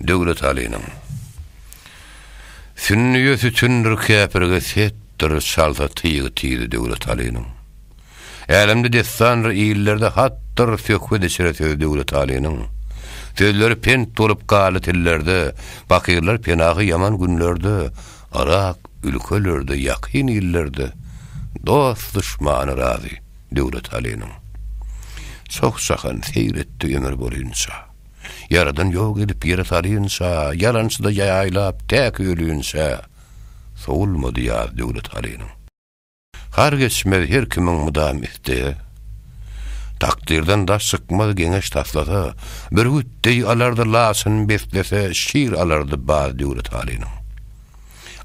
Döwletalynyň Sünnüýe sütündir käpirge setdir çalsa tyýgy tizi Döwletalynyň Älemde dessandyr illerde hatdyr söhbet içre söz Döwletalynyň Sözleri pent bolup galy tillerde Pakyrlar penahy ýaman günlerde Yrak ülkelerde ýakyn illerde Dost duşmany razy Döwletalynyň Çoh jahan seýr etdi ömür bolynça. Ýaradan ýok edip ýere salynça, ýalançyda ýaýlap täk ölinçä, Sowulmady ýaz Döwlet halynyň. Har geçmez her kimiň mydam isdege, Takdyrdan daş çykmaz geňeş taslasa, Bürgüt deý alardy laçyn beslese, Şir alardy baz Döwlet halynyň.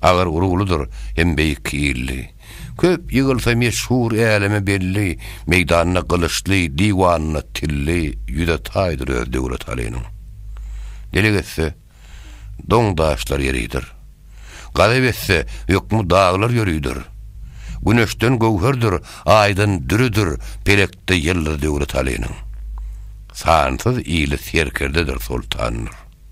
Agyr uruglydyr hem beýik illi. Köp ýygylsa meşhur äleme belli, Meýdanda gylyçly, diwanynda tilli, Ýüze taýdyr öz Döwlet Alynyň. Delek etse, doň-daşlar ýeridir. Gazap etse, hökmi daglar ýörüdir. Güneşden göwherdir, aýdan dürüdir, Pelekde ýyldyz Döwlet Alynyň. Sansyz ili serkerdedir, soltandyr.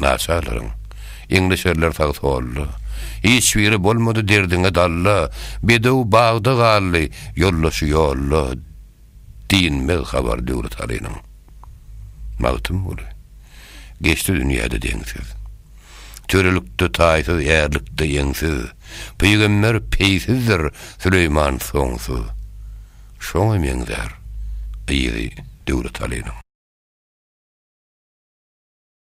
Naçarlaryň, Eňleşerler sag-solda, Hiç biri bolmady derdiňe dalla, Bedew bagda galdy, ýoldaşy ýolda, Dinmez habar Döwletalynyň. Magtymguly, Geçdi dünýäde deňsiz. Törelikde taýsyz, ärlikde ýeňsiz, Pygamber peýsizdir, Süleýman soňsuz. Şoňa meňzär yzy Döwletalynyň.